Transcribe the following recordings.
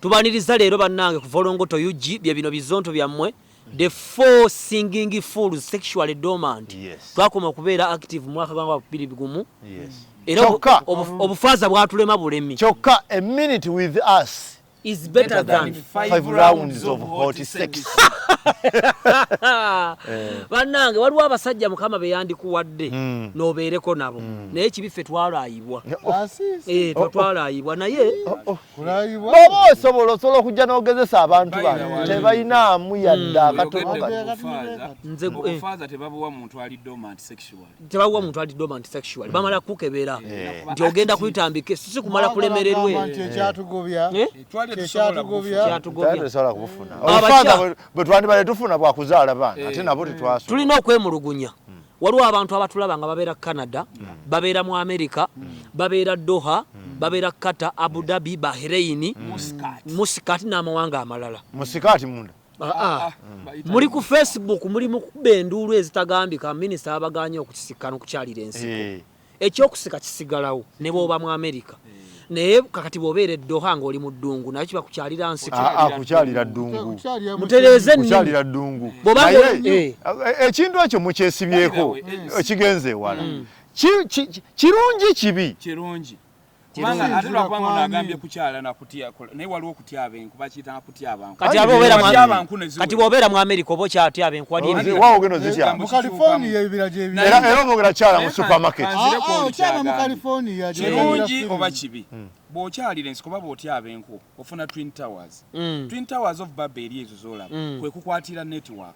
Tubaniriza leero bannange ku Volongoto UG bye bino bizonto byammwe the four singing fools sexually dormant yes. twakoma okubeera active mwaka gwa bibiri bigumu yes. era obufaaza bwatulema bulemi kyokka a minute with us is better than five rounds of hot sex eh. bannange waliwo abasajja mukama be yandikuwadde hmm. n'obeereko nabo hmm. naye kibi ffe twalayibwa ah, eh, twalaayibwa naye oh, oh, oh. bwoba osobola osobola okujja n'ogezesa abantu bano tebalinaamu yadde hmm. akatonotebabuwa muntu ali dormant sexual bamala kukebera eh. nti ogenda kuyitambika sisi kumala kulemererwe bwetwandibale tufuna bwakuzaala baana ate eh. nabo tetwasula tulina okwemulugunya waliwo abantu abatulaba nga babeera canada babeera mu america babeera doha babeera kata abu dhabi bahreini musikati n'amawanga amalala musikati munda ah, ah. Ah, ah. muli ku facebook muli mukuba enduulu ezitagambika minisita abaganye okukisikkana okukyalira ensiko hey. Eh. ekyokusika kisigalawo ne bwoba mu amerika naye kakati bwobeera eddoha ngaoli mu ddungu naye kiba kukyalira nsikukyalira ah, ah, ddungu mutereeze kukyalira ddungu eh. ekintu ekyo mukyesibyeko ekigenze ewala mm. kirungi kibi kubanga ate lwakubanga ono agambye kukyala nakutya naye waliwo okutya abenku bakiyita nakutya abantu kati aba obeera mu abantu kati bwobeera mu america oba okyatya abenku wali ebi wawo geno zitya mu california ebibira gyebira era era obogera kyala mu supermarket ah, ah, okyala mu california kirungi oba kibi hmm. bw'okyalira ensi kuba bw'otya abenku ofuna twin towers hmm. twin towers of babel ezo zolaba hmm. kwekukwatira network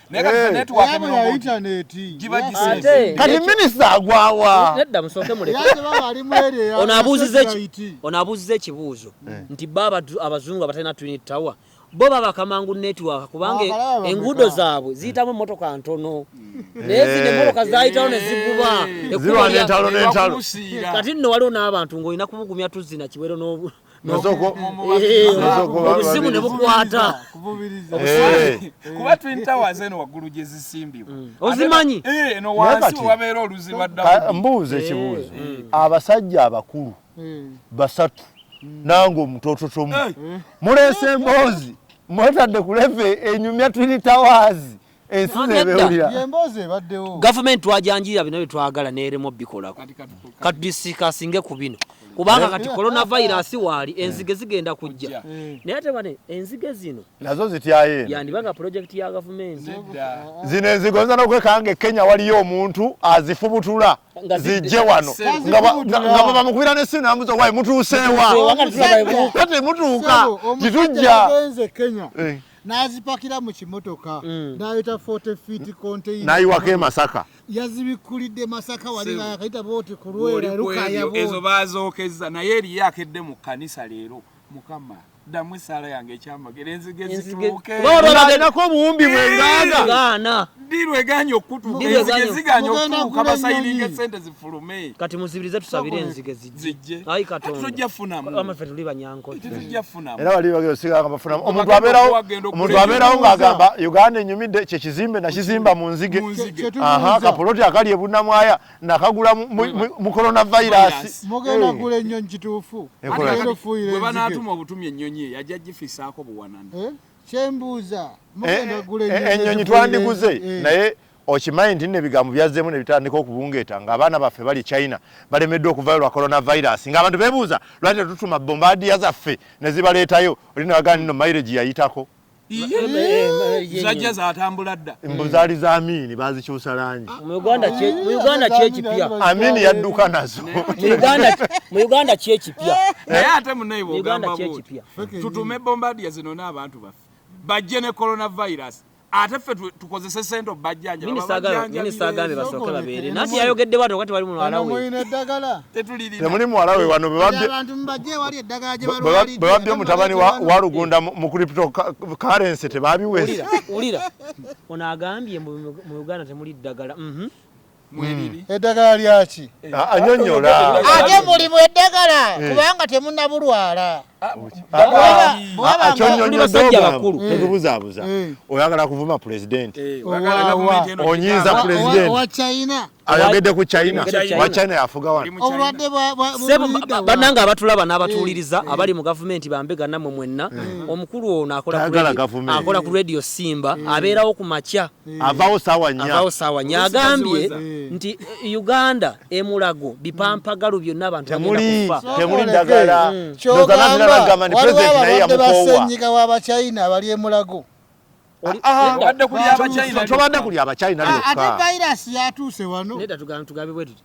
Eh, kati minisita agwawa nedda musooke mulekeono abuuziza ekibuuzo eh. nti bo abazungu abatalina twin tower bo baba kamangu network kubanga enguudo zaabwe ziyitamu emotoka ntono hmm. naye zino eh. emotoka zayitawo neziguba kati nno waliwo n'abantu ng'olina kubugumya tuzina kiwero obuzimu ne bukwata eh. kuba twin towers eno waggulu gye zisimbibwa mm. ozimanyi eh, eno wansi wabeera oluziba dda mbuuza eh. ekibuuzo abasajja abakulu mm. basatu mm. nange omutototomu muleese emboozi mwetadde kuleve enyumya twin towers ensi nebewulira yemboozi ebaddewo gavumenti twajanjirira bino bye twagala neeremu bikolako kati disikasinge ku bino kubanga kati coronavirus waali eh. enzige zigenda kujja eh. naye ate bane enzige zino nazo zityaye yandibanga project ya gavumenti zino enzige oyinza nokwekanga e kenya waliyo omuntu azifubutula zijje wano nga baba mukubira nesimu namuza wayi mutuusewa kati mutuuka titujja n'azipakira mu kimotoka mm. n'ayita 40 feet container n'ayiwako e Masaka yazibikkulidde Masaka wali nga yakayita booti ku lwera lukaya booti ezo baazookezza naye eriyo akedde mu kkanisa leero mukama ddamu essaala yange ekyamagero enzige zituukebababaganako obuwumbi bwengaana diru eganye okutuuka enzige ziganye okutuuka basayiringa esente zifulume kati muzibirize tusabire enzige zijje tujja funamu era wali bagero siganga bafunamu omuntu abeerawo omuntu abeerawo ng'agamba uganda enyumidde kye kizimbe nakizimba mu nzige aha kapoloti akali ebunamwaya nakagula mu corona virus mugenda gula ennyo nkituufu bwe banaatuma obutumi ennyonyi eyo ajja gifisaako buwanana eh? kyembuuza eh, eh, ennyonyi twandiguze naye Okimanyi nti nno ebigambo byazzeemu ne bitandika okubungeeta ng'abaana baffe bali China balemeddwa okuvaayo lwa coronavirus ng'abantu beebuuza lwaki tetutuma bombaadiya zaffe ne zibaleetayo oli ne wagamba nno mayireji yayitako zajja zatambula dda mbu zaali za amiini bazikyusa langi muuganda kyekipya amiini yadduka nazo mu uganda kyekipya naye ate munaye bwogamba tutume bombaadiya zino n'abantu baffe bajje ne coronavirus ate ffe tukozese sente obajjanjabaminisita agambe basooke babeere nati yayogedde bwati wakati wali mulwala wetemuli muwala we wano bwebabbye omutabani wa lugunda mu crypto currency tebabiwesa wulira ono agambye mu uganda temuli ddagala mhm. mwebiri eddagala lyaki ah, anyonyola ate mulimu eddagala eh. kubanga temunabulwala basajja bakulu tetubuzabuza eh. eh. oyagala kuvuma pulezidenti onyiiza pulezidenti ayogedde ku china wa china yafuga wanobanange abatulaba n'abatuwuliriza abali mu gavumenti bambega namwe mwenna omukulu ono akola ku radio simba abeerawo ku makya Eh. avawo sawa nya avawo sawa nya agambye eh. nti eh, Uganda emulago bipampagalu hmm. byonna abantu temuli temuli dagala hmm. kyogamba gamani president naye yamukowa nyika wa ba China abali emulago ah, ah, ah. tobadde kuli abachina ate virus yatuuse wano neda tugambe tugambe bwetuti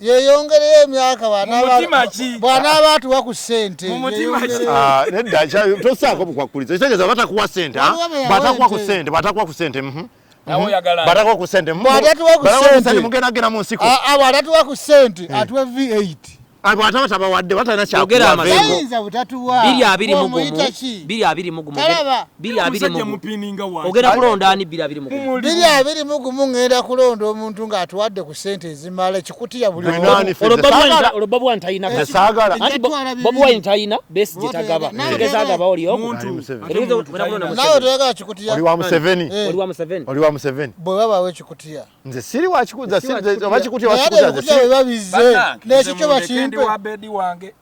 yeyongereyo emyaka bwanaaba atuwa ku sente ah, nedda tosaako bukwakkulizo kitegeeza batakuwa sente ah? batakuwa ku sente batakuwa ku sente mhm. batakuwa ku sente mugendagenda mu nsiko ah, bwatatuwa ku sente eh. atuwe v8 bwataba tabawadde batalina kyakuwa biri abiri mugumu biri abiri mu ogenda kulonda ani biri abiri mu biri abiri mu gumu ngenda kulonda omuntu nga atuwadde ku sente ezimala ekikuti ya buli olwo babu wine tayina kasi anti babu wine tayina besi jetagaba tegeza agaba oli omu nawe toyaga ekikuti ya oli wa museveni eh. oli wa museveni oli wa museveni bwe baba we ekikuti ya nze siri wa kikuti ya siri wa kikuti ya wa kikuti ya bwe babize nekikyo bakimpe